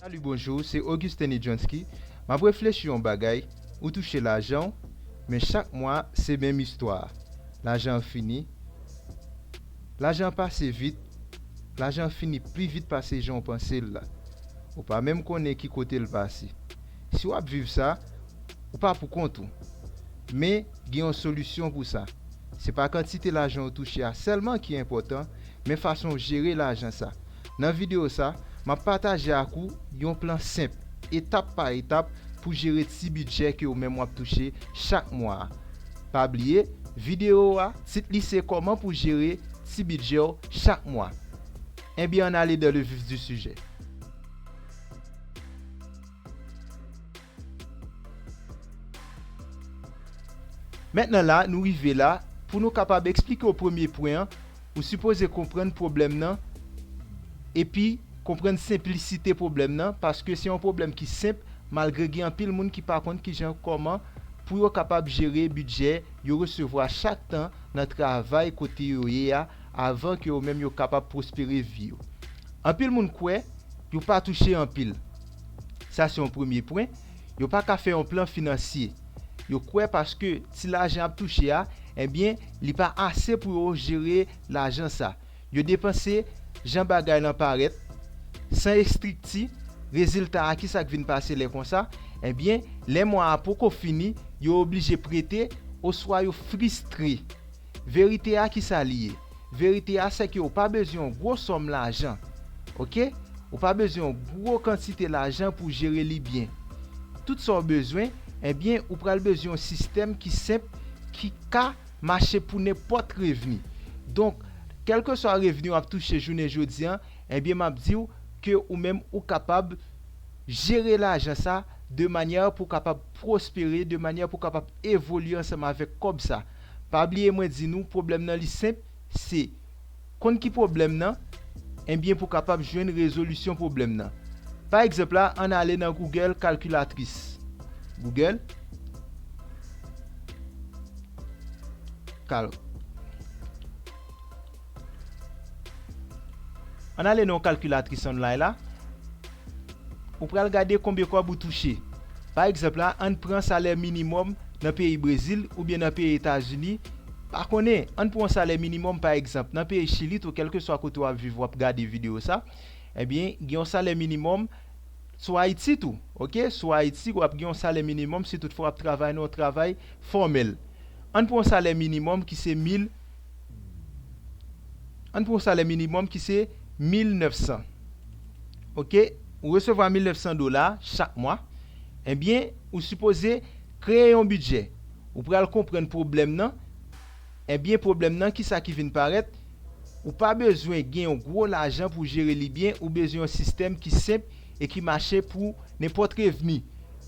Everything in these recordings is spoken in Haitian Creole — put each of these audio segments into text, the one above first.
Salut bonjour se Augustin Nidjonsky map reflechi yon bagay ou touche lajanw men chak mwa se menm istwa lajan an fini lajan an pase vit lajan an fini pli vit pase janw pansel la ou pa menm konnen ki kotel pase si wap viv sa ou pa pou kont ou men gen yon solisyon pou sa se pa kantite lajan ou touche a sèlman ki enpòtan men fasonw jere lajan sa Nan videyo sa, m ap pataje ak ou yon plan senp, etap pa etap pou jere ti bidjè ke ou menm w ap touche chak mwa a. Pa bliye, videyo a, tit li se Kòman pou jere ti bidjè w chak mwa. Enben ann ale dans le vif du sujet. Mentnan la nou rive la, pou nou kapab eksplike w premye pwen an, ou sipoze konprann pwoblèm nan epi konprann senplisite pwoblèm nan paske se yon pwoblèm ki senp malgre gen anpil moun ki pa konn kijan kòman pou yo kapab jere bidjè yo resevwa chak tan nan travay kote yo ye a avan ke yo menm yo kapab pwospere vi yo. Anpil moun kwè yo pa touche anpil. Sa se yon premye pwen. Yo pa ka fè yon plan finansye. Yo kwè paske ti lajan y ap touche a, enbyen, li pa ase pou yo jere lajan sa. Yo depanse jan bagay lan parèt, san estrikti. Rezilta a, kisa k vin pase lè konsa? Enbyen, lè mwa a poko fini, yo oblije prete oswa yo fristre. Verite a kisa li ye? Verite a sèke ou pa bezwen yon gwo sòm lajan ok ou pa bezwen yon gwo kantite lajan pou jere li byen tout sa ou bezwen ebyen ou pral bezwen yon sistèm ki senp ki ka mache pou nenpòt revni donk kèlkeswa revni wap touche jounen jodi an ebyen map diw ke ou menm ou kapab jere lajan sa de manyè pou kapab pwospere de manyè pou kapab evolye ansanm avèk kòb sa. Pa bliye mwen di nou pwoblèm nan li senp se Konn ki pwoblèm nan Ebyen pou kapab jwenn rezolisyon pwoblèm nan Pa egzanp la ann ale nan Google kalkilatris Google kal. Ann ale nan kalkilatris online la. Ou pral gade konbyen kòb ou touche. Pa egzanp la, ann pran salè minimòm nan peyi Brezil oubyen nan peyi Etazini, pa konnen, ann pran yon salè minimòm pa egzanp nan peyi Chili tou, kèlkeswa kote w ap viv w ap gade videyo sa, ebyen gen yon salè minimòm sou Ayiti tou, ok, sou Ayiti w ap gen yon salè minimòm si tout fwa w ap travay nan yon travay fòmèl. Ann pran yon salè minimòm ki se 1000. Ann pran yon salè minimòm ki se 1900. Ok, ou resevwa 1900 dola chak mwa, enbyen ou sipoze kreye yon bidjè. Ou pral konprann pwoblèm nan, enbyen pwoblèm nan ki sa ki vin parèt, ou pa bezwen gen yon gwo lajan pou jere li byen, ou bezwen yon sistèm ki senp e ki mache pou nenpòt revni.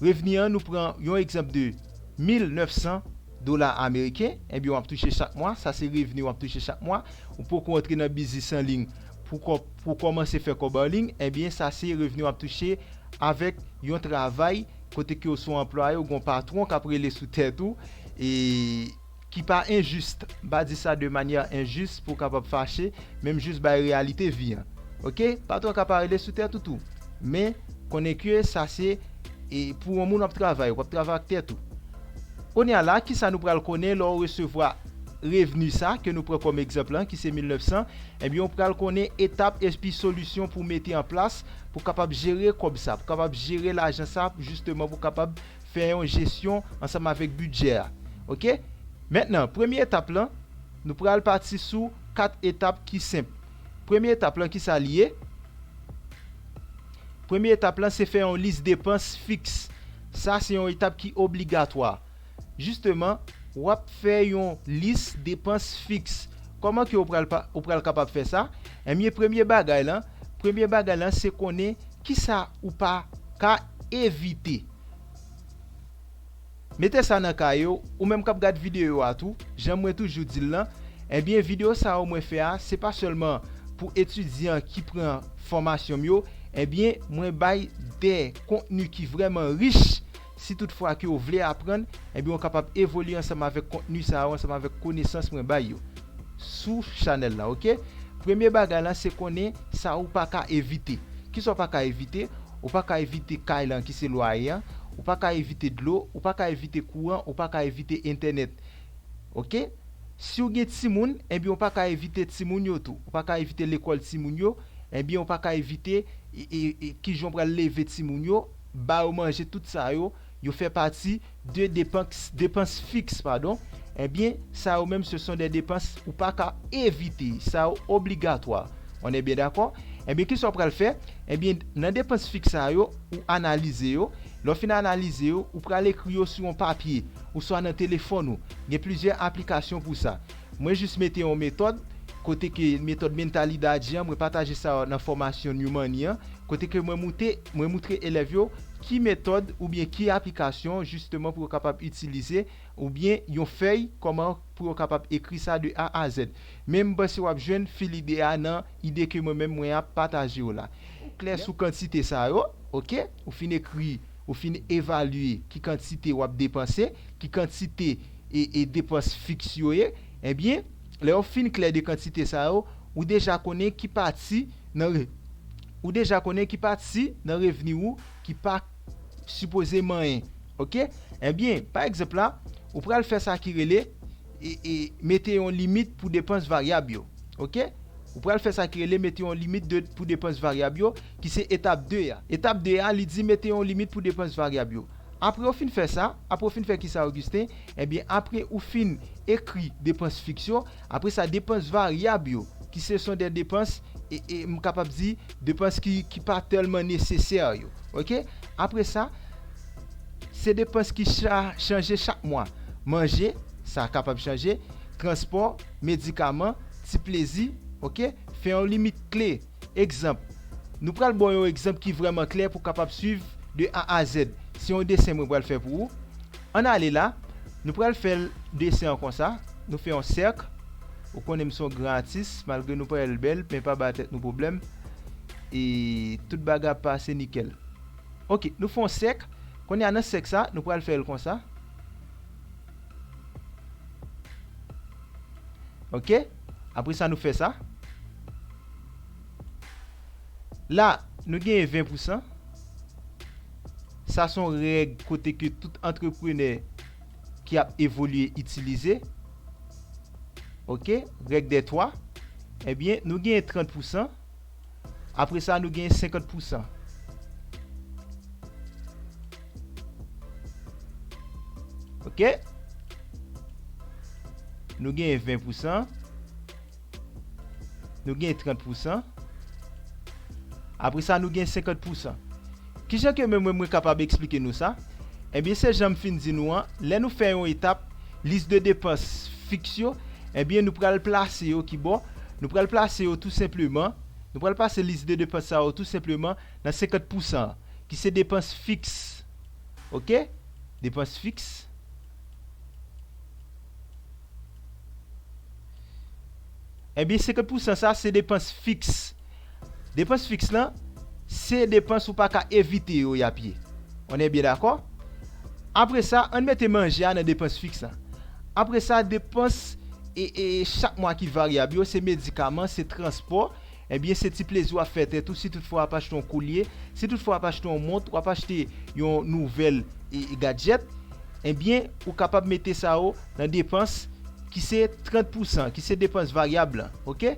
Revni an nou pran yon egzanp de 1900 dola ameriken ebyen wap touche chak mwa, sa se revni wap touche chak mwa, ou poko antre nan biznis an liy pou kòmanse fè kòb an liy ebyen sa se revni wap touche avèk yon travay kote ke ou son anplwaye ou gon patwon kap rele sou tèt ou e ki pa enjis, m pa di sa de manyè enjis pou kapab fache men m jis bay reyalite vi an ok, patwon ka pa rele sou tèt ou tou men konnen ke sa se pou yon moun wap travay, wap travay ak tèt ou. Kounye a la, kisa nou pral konnen lè w resevwa revni sa ke nou pran kòm egzanp lan ki se 1900, ebyen ou pral konnen etap epi solisyon pou w mete an plas pou w kapab jere kòb sa, pou w kapab jere lajan sa jisteman pou w kapab fè yon jesyon ansanm avèk bidjè a. Ok. Mentnan, premye etap lan, nou pral pati sou 4 etap ki senp. Premye etap lan kisa li ye? Premye etap la se fè yon lis depans fiks. Sa se yon etap ki obligatwa. Jisteman, w ap fè yon lis depans fiks. Kòman ke ou pral kapab fè sa? Enbyen, premye bagay lan, premye bagay lan se konnen kisa ou pa ka evite. Mete sa nan kaye w, ou menm k ap gad videyo a tou, jan mwen toujou di l lan, ebyen videyo sa yo mwen fè a se pa sèlman pou etidyan ki pran fòmasyon m yo, ebyen mwen bay de kontni ki vrèman rich, si tout fwa ke w vle aprann, ebyen w kapab evolye ansanm avèk kontni sa yo, ansanm avèk konesans mwen bay yo sou chanèl la ok. Premye bagay lan se konnen sa ou pa ka evite, kisa w pa ka evite? Ou pa ka evite kay lan ki se lwaye an, ou pa ka evite dlo, ou pa ka evite kouran, ou pa ka evite entènèt. Ok. Si w gen timoun, enbyen ou pa ka evite timoun yo tou. Ou pa ka evite lekòl timoun yo, enbyen ou pa ka evite e, e, e kijan w pral leve timoun yo, ba yo manje, tout sa yo, yo fè pati. 2 depans depans fiks padon ebyen sa yo menm se son dè depans ou pa ka evite sa yo obligatwa one byen dakò ebyen kisa w pral fè ebyen nan depans fiks sa yo ou analize yo lè w fin analize yo ou pral ekri yo sou yon papye ouswa nan telefòn ou gen plizyè aplikasyon pou sa. Mwen jis mete yon metòd, kote ke metòd mentalidadi an, mwen pataje sa nan fòmasyon New Money an, kote ke mwen moute, mwen moutre elèv yo ki metòd oubyen ki aplikasyon jisteman pou yo kapab itilize oubyen yon fèy kòman pou yo kapab ekri sa de A a Z. Men m panse w ap jwenn fil ide a nan ide ke mwen menm mwen ap pataje yo la. Ou klè sou kantite sa yo, ok, ou fin ekri. Ou fin evalye ki kantite w ap depanse, ki kantite e depans fiks yo ye, ebyen, lè yo fin klè de kantite sa yo, ou deja konnen ki pati nan ou deja konnen ki pati nan revni ou ki pa sipoze manyen. Oke? Ebyen, pa egzanp la, ou pral fè sa ki rele e mete yon limit pou depans varyab yo. Oke? Ou pral fè sa ki rele mete yon limit pou depans varyab yo. ki se etap 2 a. Etap 2 a, li di mete yon limit pou depans varyab yo. Apre ou fin fè sa, apre ou fin fè kisa Augustin? Ebyen apre ou fin ekri depans fiks yo, apre sa depans varyab yo ki se son dè depans e e m kapab di depans ki ki pa tèlman nesesè yo. Ok. Apre sa, se depans ki cha chanje chak mwa. Manje, sa kapab chanje, transpò, medikaman, ti plezi, ok. Fè yon limit kle. Egzanp, Nou pral ba w yon egzanp ki vrèman klè pou w kapab suiv de A a Zèd. Se yon desen mwen pral fè pou ou. Ann ale la, nou pral fè desen an konsa, Nou fè yon sèk, ou konnen m se yon gran atis, malgre nou pa wè l bèl, men pa ba tèt nou pwoblèm, e tout bagay ap pase nikèl. Oke, nou fè yon sèk, kounye a nan sèk sa, nou pral fè l konsa. Oke, apre sa nou fè sa. La, nou genyen 20 pousan. Sa son règ kote ke tout antreprenè ki ap evolye itilize. Ok, règ dè 3. Ebyen, nou genyen 30 pousan. Apre sa, nou genyen 50 pousan. Ok. Nou genyen 20 pousan. Nou gen 30 pousan. Apre sa nou gen 50 pousan. Ki jan ke mwen mwen kapab eksplike nou sa? Ebyen se jan m fin di nou an, lè nou fè yon etap, lis de depans fiks yo, ebyen nou pral plase yo ki bò? Nou pral plase yo tou senpleman, nou pral plase lis de depans sa yo tou senpleman nan 50 pousan an, ki se depans fiks. Ok? Depans fiks. Ebyen 50 pou san sa se depans fiks. Depans fiks lan se depans ou pa ka evite yo y ap ye. On e byen dakò? Apre sa, ann mete manje a nan depans fiks lan. Apre sa depans chak mwa ki varyab yo se medikaman, se transpò. Ebyen se ti plezi wap fè tèt ou si tout fwa wap achte yon kolye, si tout fwa wap achte yon mont, wap achte yon nouvèl gadjèt, ebyen ou kapab mete sa yo nan depans ki se 30 pousan ki se depans varyab lan ok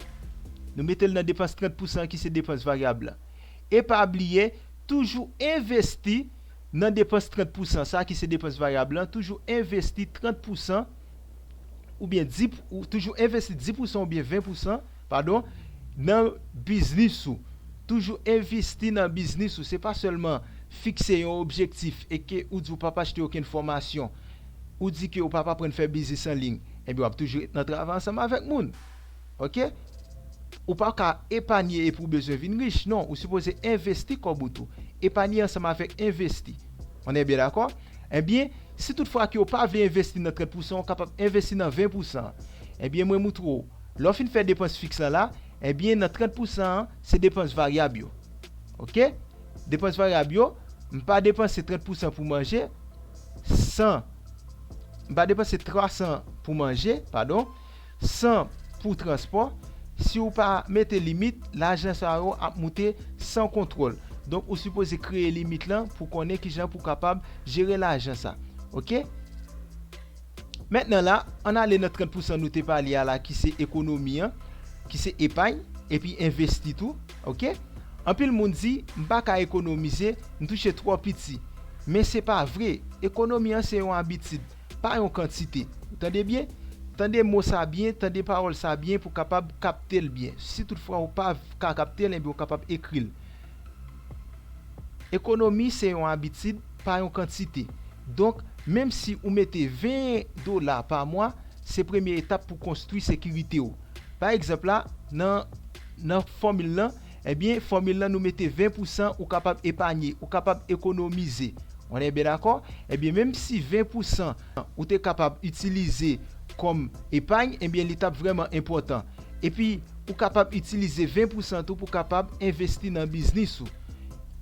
nou metel nan depans 30 pousan ki se depans varyab lan e pa bliye toujou envesti nan depans 30 pousan sa ki se depans varyab lan toujou envesti 30 pousan oubyen di toujou envesti 10 pousan oubyen 20 pousan Padon, nan biznis ou. Toujou envesti nan biznis ou, se pa sèlman fikse yon objektif e ke ou di ou pap achte okenn fòmasyon, ou di ke ou pap aprann fè biznis an liy, enben wap toujou ret nan travay ansanm avèk moun. Ok. Ou pa ka epanye epi ou bezwen vin rich, non, ou sipoze envesti kòb ou tou. Epanye ansanm avèk envesti. On est bien d'accord? Enben, si tout fwa ke ou pa vle envesti nan 30 pousan, ou kapab envesti nan 20 pousan. Enben mwen moutre ou. Lè w fin fè depans fiks la la, ebyen nan 30 pousan an, se depans varyab yo. Ok. Depans varyab yo, m pa depanse 30 pousan pou manje, 100, m pa depanse 300 pou manje, padon, 100 pou transpò, si w pa mete limit, lajan sa yo ap moute san kontwòl. Donk ou sipoze kreye limit lan pou konnen kijan pou kapab jere lajan sa. Ok. Mentnan la, ann ale nan 30 pousan nou te pale a la ki se ekonomi an, ki se epay, epi envesti tou, ok. Anpil moun di, m pa ka ekonomize, m touche twò piti. Men se pa vre, ekonomi an se yon abitid, pa yon kantite. Ou tande byen? Tande mo sa byen, tande pawòl sa byen pou w kapab kapte l byen. Si toutfwa ou pa ka kapte l, enben ou kapab ekri l. Ekonomi se yon abitid, pa yon kantite. Donk, menm si ou mete 20 dola pa mwa, se premye etap pou konstwi sekirite ou. Pa egzanp la, nan nan fòmil lan, ebyen fòmil lan nou mete 20 pou san ou kapab epanye, ou kapab ekonomize. On est bien d'accord? Ebyen menm si 20 pou san ou te kapab itilize kòm epagn ebyen li tap vrèman enpòtan epi ou kapab itilize 20 pousan tou pou kapab envesti nan biznis ou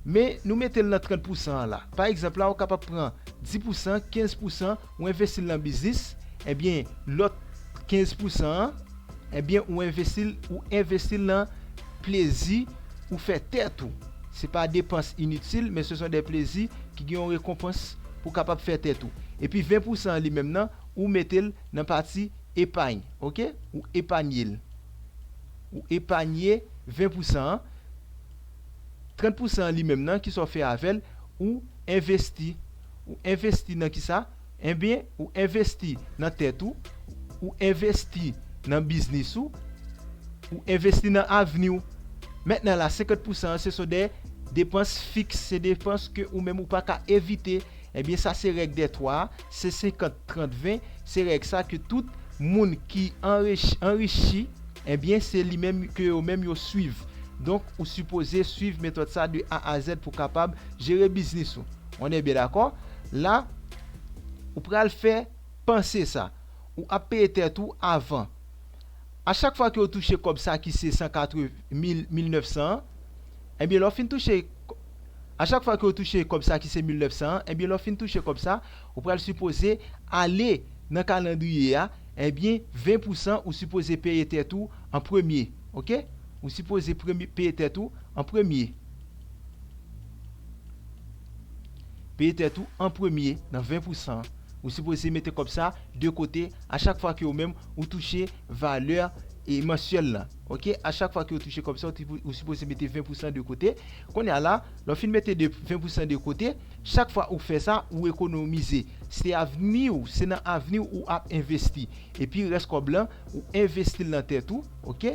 men nou metel nan 30 pousan an la pa egzanp la ou kapab pran 10 pousan 15 pousan ou envestil nan biznis ebyen lòt 15 pousan an Ebyen ou envesil ou envesti nan plezi ou fè tèt ou. Se pa depans initil men se son dè plezi ki gen yon rekonpans pou kapab fè tèt ou. Epi 20 pousan an li menm nan ou mete l nan pati epagn ok ou epanye l. Ou epanye 20 pousan an. 30 pousan an li menm nan kisa w fè avè l ou envesti. Ou envesti nan kisa? Enben, ou envesti nan tèt ou, ou envesti nan biznis ou, ou envesti nan avni w. Mentnan la, 50 pousan an se so de depans fiks, se depans ke ou menm ou pa ka evite. Enben, sa se règ dè twa a, se 50, 30, 20, se règ sa ke tout moun ki anrichi, enben, se li menm ke yo menm yo swiv. Donk, ou sipoze swiv metòd sa de A a Zèd pou w kapab jere biznis ou. On est bien d'accord? La ou pral fè panse sa. Ou ap peye tèt ou avan. A chak fwa ke ou touche kòb sa ki se 180 mil, 1900 an, enbyen lè w fin touche, a chak fwa ke ou touche kòb sa ki se 1900 an, enbyen lè w fin touche kòb sa, ou pral sipoze ale nan kalandriye a, enbyen 20 pou san ou sipoze peye tèt ou an premye. Ok? Ou sipoze premye, peye tèt ou an premye. Peye tèt ou an premye nan 20 pou san an. Ou sipoze mete kòb sa de kote a chak fwa ke ou menm ou touche valè e mansyèl lan. Ok, a chak fwa ke ou touche kòb sa ou sipoze mete 20 pou san de kote. Kounye a la, lè ou fin mete 20 pou san de kote, chak fwa ou fè sa, ou ekonomize. Se avni ou, se nan avni ou ou ap envesti. Epi rès kòb lan, ou envesti l nan tèt ou, ok.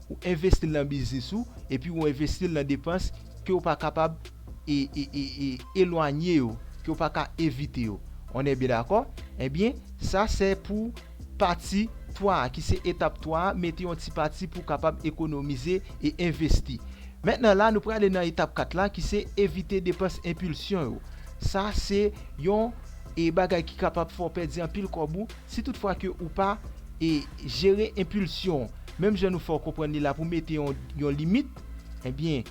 Ou envesti l nan biznis ou epi ou envesti l nan depans ke ou pa kapab elwanye yo, ke ou pa ka evite yo. On è byen dakò? Ebyen, sa sè pou pati 3 a, ki se etap 3 a, mete yon ti pati pou kapab ekonomize e envesti. Mentnan la nou prale nan etap 4 la ki se evite depans enpilsyon yo. Sa se yon e bagay ki kapab fè w pèdi anpil kòb ou, Si tout fwa ke ou pa e jere enpilsyon menm jan nou fè w konprann li la pou mete yon yon limit ebyen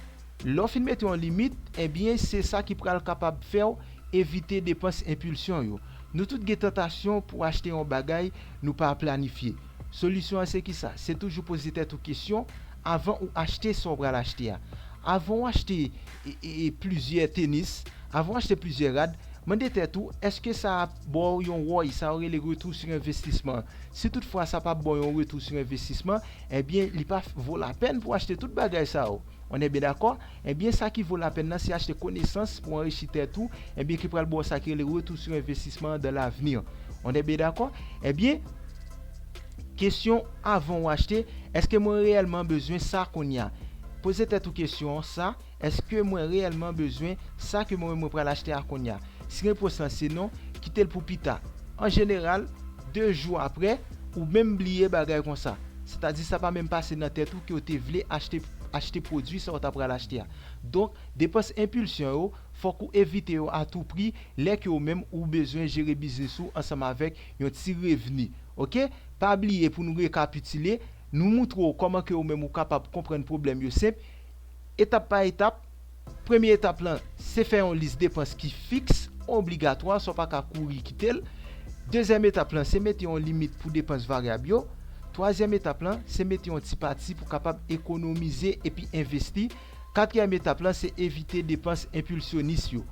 lè w fin mete yon limit ebyen se sa ki pral kapab fè w evite depans enpilsyon yo. Nou tout gen tantasyon pou achte yon bagay nou pa planifye. Solisyon an se kisa? Se toujou poze tèt ou kesyon avan ou achte sa w pral achte a. Avan w achte e e plizyè tenis, avan w achte plizyè rad, mande tèt ou eske sa Ba w yon wòy, sa yo rele retou si envestisman. Si tout fwa sa pa ba w yon retou si envestisman, enbyen li pa vo lapèn pou achte tout bagay sa yo. On è byen dakò? Enbyen sa ki vo lapèn nan se achte konesans pou anrichi tèt ou, enbyen ki pral ba w sa ki rele retou si envestisman an dan lavni. On è byen dakò? Enbyen, kesyon avan ou achte, èske mwen reyèlman bezwen sa kounya? Poze tèt ou kesyon sa. Èske mwen reyèlman bezwen sa ke mwen menm mwen pral achte a kounye a? Si repons lan se non, kite l pou pita. An jeneral, de jou apre, ou menm bliye bagay konsa. Sètadi sa pa menm pase nan tèt ou ke w te vle achte achte pwodui sa w ta pral achte a. Donk, depans enpilsyon yo, fòk ou evite yo a tou pri lè ke ou menm ou bezwen jere biznis ou ansanm avèk yon ti revni. Oke? Pa bliye pou nou rekapitile, nou moutre w kòman ke ou menm ou kapab konprann pwoblèm yo senp, Etap pa etap, Premye etap lan se fè yon lis depans ki fiks, obligatwa, sa w pa ka kouri kite l. Dezyèm etap lan se mete yon limit pou depans varyab yo. Twazyèm etap lan se mete yon ti pati pou kapab ekonomize epi envesti. Katriyèm etap lan se evite depans enpilsyonis yo.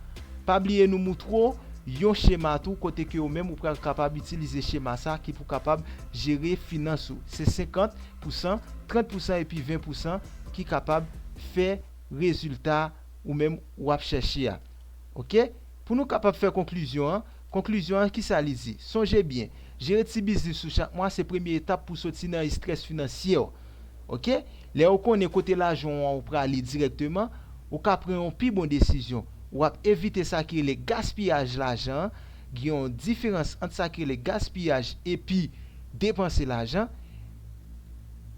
Pa bliye nou moutre w yon chema tou kote ke ou menm ou pral kapab itilize chema sa ki pou kapab jere finans ou. Se 50. pousan, 30 pousan epi 20 pousan ki kapab fè rezilta ou menm ou ap chèche a. Ok, pou nou kapab fè konklizyon an, konklizyon an ki sa li di? Sonje byen, jere ti biznis ou chak mwa se premye etap pou soti nan estrès finansye w. Ok, lè ou konnen kote lajan ou an ou prale dirèkteman, ou ka pran yon pi bon desizyon, ou ap evite sa ki rele gaspiyaj lajan an, Gen yon diferans ant sa ki rele gaspiyaj epi depanse lajan.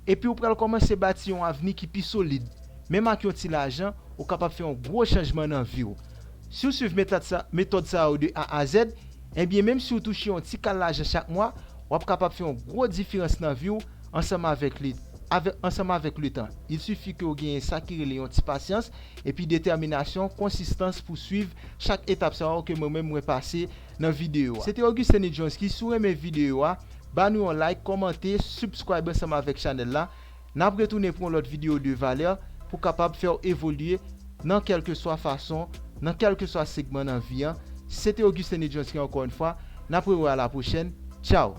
Epi ou pral kòmanse bati yon avni ki pi solid. Menm ak yon ti lajan, ou kapab fè yon gwo chanjman nan vi w. Si w suiv metòd sa yo de A a Zèd, enbyen menm si w touche yon ti kal lajan chak mwa, w ap kapab fè yon gwo diferans nan vi w ansanm avèk letan. Il sifi ke w genyen sa ki rele yon ti pasyans epi detèminasyon, konsistans pou swiv chak etap sa yo ke mwen menm mwen pase nan videyo a. Se te Augustin Nidjonski, si w renmen videyo a, ba nou yon like, kòmante, subscribe ansanm avèk chanèl la. N ap retounen pou yon lòt videyo de valè pou kapab fè w evolye nan kèlkeswa fason, nan kèlkeswa segman nan vi an. Se te Augustin Nidjonski ankò yon fwa, n ap rewè a la pwochèn. Tchaw!